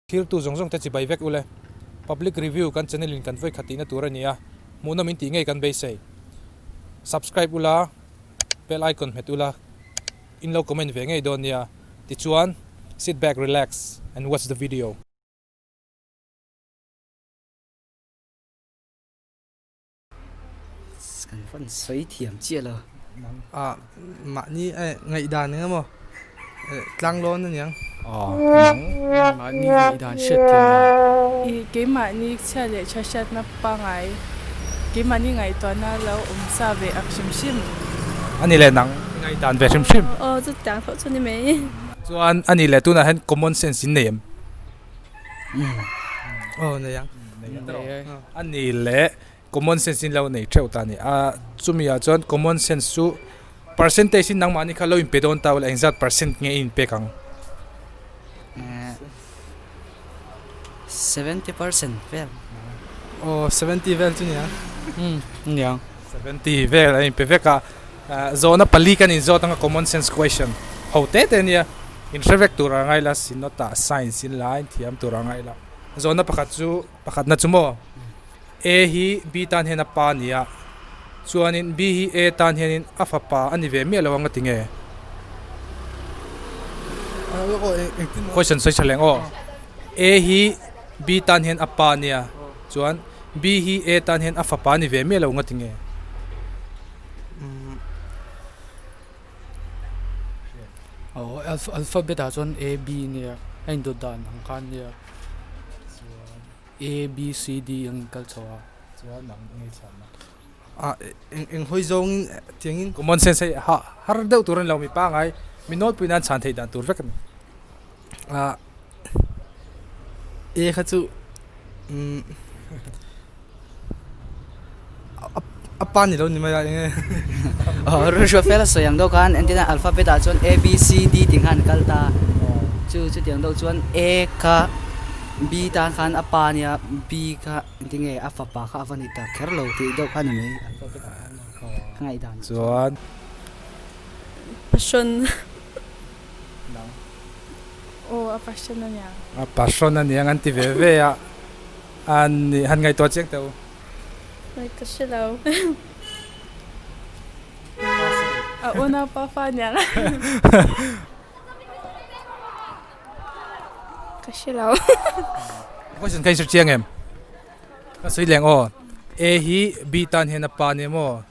Thiltu zawng zawngte chi bai vek u le. Public review kan channel in kan vawikhat tihna tur a ni a, hmuhna min tih ngei kan beisei. Subscribe u la, bell icon hmet u la, in lo comment ve ngei dawn nia. Tichuan, sit back, relax and watch the video. kan van sawi thiam chiah lo a mahni e ngaih dan eng emaw tlang lawn a niang a mahni ngaih dan hriat thiam lo i keimahni chhiat leh tha hriatna pangai keimahni ngaihtuahna lo awm sa ve ang hrim hrim a ni leh nang i ngaih dan ve hrim hrim aw chutiang tho chu a ni mai chuan a ni leh tunah hian common sense in nei em. oh nei ang a ni le common sense in lo nei theuh ta ni a chumi ah chuan common sense chu percentage in nangmahni kha lo in pe dawn ta awle eng zat percent nge in pek ang seventy percent vel oh seventy vel chu ni ang ni ang seventy vel a in pe vek a Zawhna pali kan inzawt anga common sense question ho te te nia in hre vek tur a ngai la, Synod ah science in la in thiam tur a ngai la. Zawhna pakhat chu pakhatna chu maw A hi B tan hian a pa nia chuanin B hi A tan hianin a fapa a ni ve miah lo anga ti nge? Question sawi thaleng aw A hi B tan hian a pa nia chuan B hi A tan hian a fapa a ni ve miah lo anga ti nge? alphabet ah chuan a b nia a indawt dan ang khan nia chuan a b c d ang inkal a chhoh a chuan an ngaih chhuah na a eng eng hawi zawng tiang in common sense hei har deuh tur a ni lo mi pangai mi nawlpui nan chhan thei dan tur vek a ni. ah e kha chu umm a pa ni lo ni mai a eng nge ruihruih fel a sawi ang deuh khan engtihlain alphabet ah chuan a b c d tih khan an kal ta chu chuti ang deuh chuan a kha b tan khan a pa a nia b kha engti nge a fapa kha a va ni ta kher lo tih deuh khan a ni chuan pasawn. nang. Aw, a passion aniang. A passion aniang an ti ve ve a. An nih, han ngaihtuah chiang teh u. Ngaih ta hre lo. A awna pa fa aniang a. Ka hre lo. A question kha insert chiang em? Ka sawi leng aw. A hi B tan hian a pa nia maw?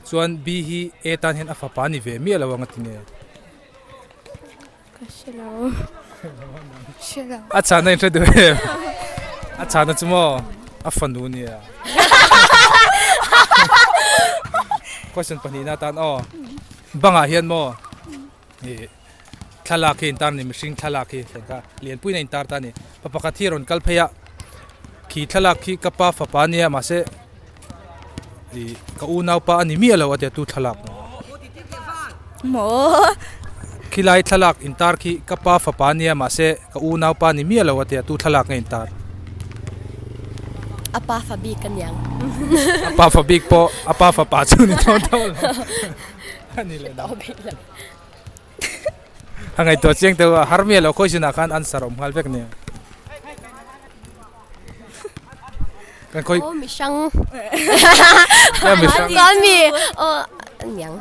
Chuan Bi hi e tan hian a fapa ni ve miah lo ang a ti nge? Ka hre lo. Hre lo. A chhana in hre duh em? A chhana chu maw a fanu nia. Question pahnihna atan aw. Bangah hian maw Ni thlalak hi a intar ani, mihring thlalak hi thlen kha lianpuiin a intar ta a ni. Pa pakhat hi a rawn kal phei a, khi thlalak hi ka pa fapa a nia mahse ih ka unaupa a ni miah lo a tia tu thlalak a ni. Maw? Khi lai thlalak intar khi ka pa fapa a nia mahse ka unaupa a ni miah lo a tia tu thlalak nge intar? A pa fabik a ni ang. A pa fabik pawh a pa fapa chu a ni dawn dawn lo. Ani leh nang. A ngaihtuah chiang teh a, harmia lo khawi sinah khan answer a awm nghal vek nia. Kan khawi. Aw mihrang. Nia mihrang. Kan mi aw niang.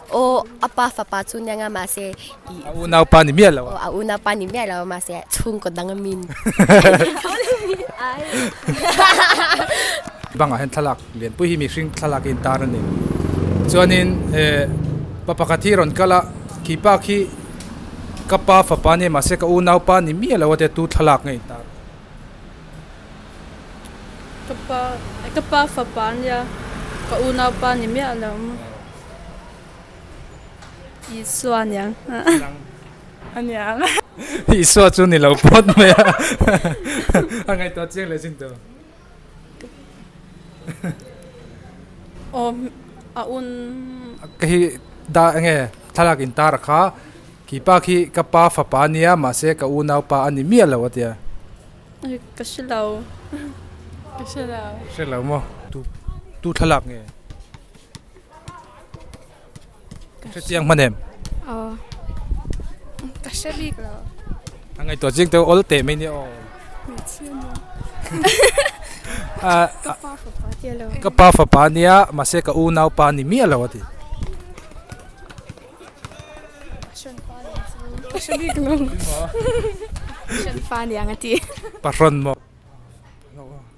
Aw apa fapa chu nianga mahse A unaupa ni miah loh a. A unaupa ni miah loh a mahse chhungkaw dang a min. Bangah hian thlalak lianpui hi mihring thlalak in tar a ni. Chuanin pa pakhat hi rawn kal a, khipa khi ka pa fapa nia mahse ka unaupa ni miah loh ate tu thlalak nge in tar. Ka pa fapa nia ka unaupa ni miah loh. Isua niang a niang. Isua chu ni lo phawt mai a. A ngaihtuah chiang leh chin tur. Aw a un. Ka hi da enge thlalak in tar a kha kipa khi ka pa fapa a nia mahse ka unau pa a ni miah lo a ti a. Ka hre lo. Ka hre lo. Hre lo maw? Tu thlalak nge. Ka hrechiang hman em? Aw. Ka hre bik lo. A ngai to jing te ol te mai ni aw. A ka pa fa pa ti lo. Ka pa fa pa nia ma se ka u nau pa ni mi alo ati. Shen pa ni chu. Ka hre bik lo. Shen pa ni ang ati. Paron mo.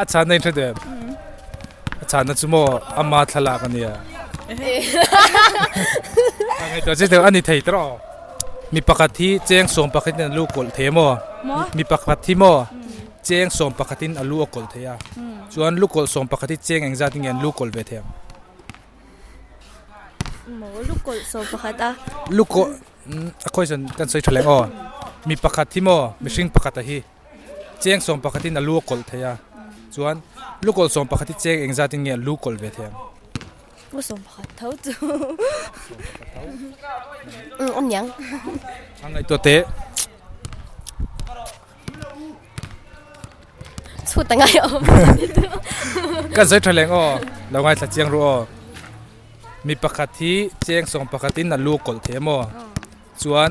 A chhana hi hre deuh em? A chhana chu maw ama thlalak a nia? A ngaih tawh che deuh a ni thei tawh aw. Mi pakhat hi cheng sawm pakhatin a lu a kawlh thei emaw? Mi pakhat hi maw cheng sawm pakhatin a lu a kawlh thei a? Chuan lu kawlh sawm pakhat hi cheng engzat in nge an lu kawlh ve thei ang? Maw lu kawlh sawm pakhat a. Lu kawlh, a khawisawn kan sawi tha leh aw. Mi pakhat hi maw mihring pakhata hi? cheng sawm pakhatin a lu a kawlh thei a, chuan lu kawlh sawm pakhat hi cheng engzat in nge a lu kawlh ve thei ang? Lu sawm pakhat tho chu a niang. A ngaihtuah teh. Chhut a ngai awm. Ka zui tha leng aw, lo ngaithla chiang ru aw. Mi pakhat hi cheng sawm pakhatin a lu kawlh thei emaw? Chuan.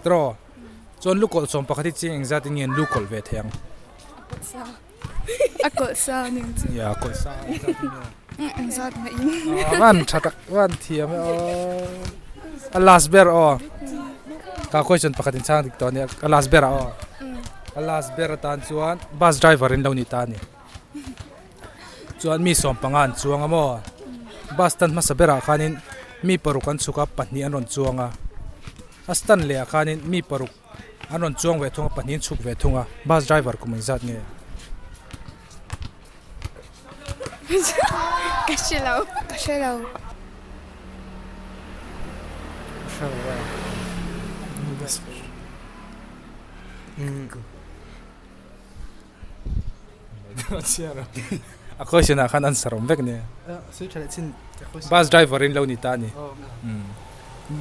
Straw chuan lu kawlh sawm pakhat hi chiang engzat in nge an lu kawlh ve thei ang? A kawlh sa ang engzat in. Ya, kawlh sa ang engzat in nge? Engzat ngaih in. Aw, van tha tak, van thiam e aw. A last ber aw. Ka question pakhat in chang dik tawh a nia. A last ber ah aw. A last ber atan chuan bus driver in lo ni ta a ni. chuan mi sawm panga an chuang a maw bus stand hmasa berah khanin mi paruk an chhuk a pahnih an rawn chuang a a stand lehah khanin mi paruk an rawn chuang ve thung a pahnih an chhuk ve thung a bus driver kum zat nge ka hre lo ka hre lo a question ah khan answer awm vek nia bus driver in lo ni ta a ni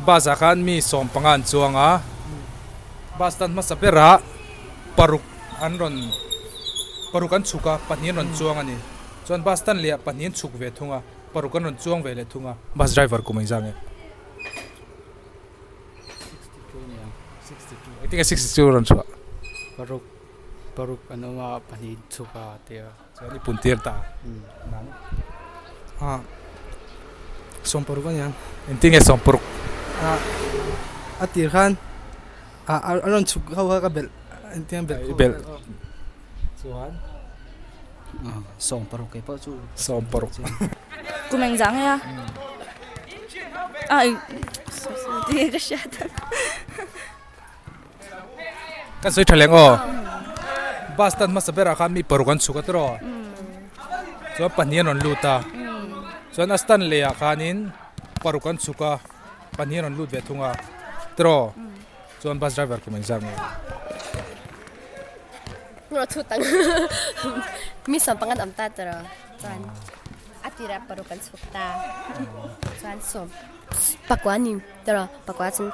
bus ah khan mi sawm panga an chuang a bus tan hmasa ber ah paruk an rawn paruk an chhuk a pahnih an rawn chuang a ni chuan bus tan leh ah pahnih an chhuk ve thung a paruk an rawn chuang ve leh thung a bus driver kum a inzam em i think a sixty two a rawn chhuah. Paruk an awm a, pahnih chhuk a tih a. Chuan i puntir ta a. Sawmparuk a nia. Engtin nge sawmpuruk? A tir khan a rawn chhuk ho kha ka belh engtin belh khawh belh a. Chuan sawmparuk kei pawh chu sawmparuk. Kum eng zah nge a? Ai, sorry sorry, tih nge ka hria ta. Kan sawi tha leng aw. Bus tan hmasa berah khan mi paruk an chhuk a tiraw. Chuan pahnih an rawn lut a. Chuan a stand leh ah khanin paruk an chhuk a. Pahnih an rawn lut ve thung a tiraw. Chuan bus driver kum an zak ngei. Mi sawmpang an awm ta tiraw. Chuan a tirah paruk an chhuk ta. Chuan sawm pakua ning tiraw. Pakua chuan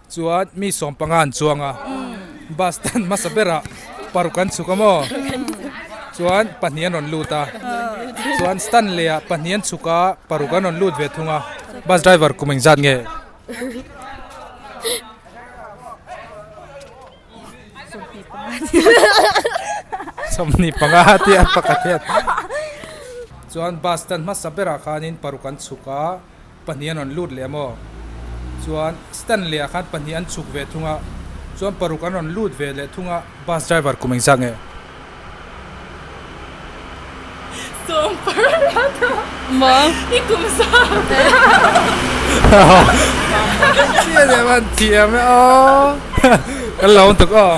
Chuan mi sawm panga an chuang a, bus stand hmasa berah paruk an chhuk a maw. Chuan pahnih an rawn lut a, chuan stand leha pahnih an chhuk a, paruk an rawn lut ve thung a. Bus driver kum engzat nge? Sawmhnih panga tih a pakhat hian. Chuan bus stand hmasa berah khanin paruk an chhuk a. pahnih an rawn lut leh a maw. Chuan Stanley-a khan pahnih an chhuk ve thung a, chuan paruk an rawn lut ve leh thung a. Bus driver kum engzah nge? Sawm paruk la tho. Maw? I kum sawm. Chiah leh a an tih em aw. Kan la awm tuk aw.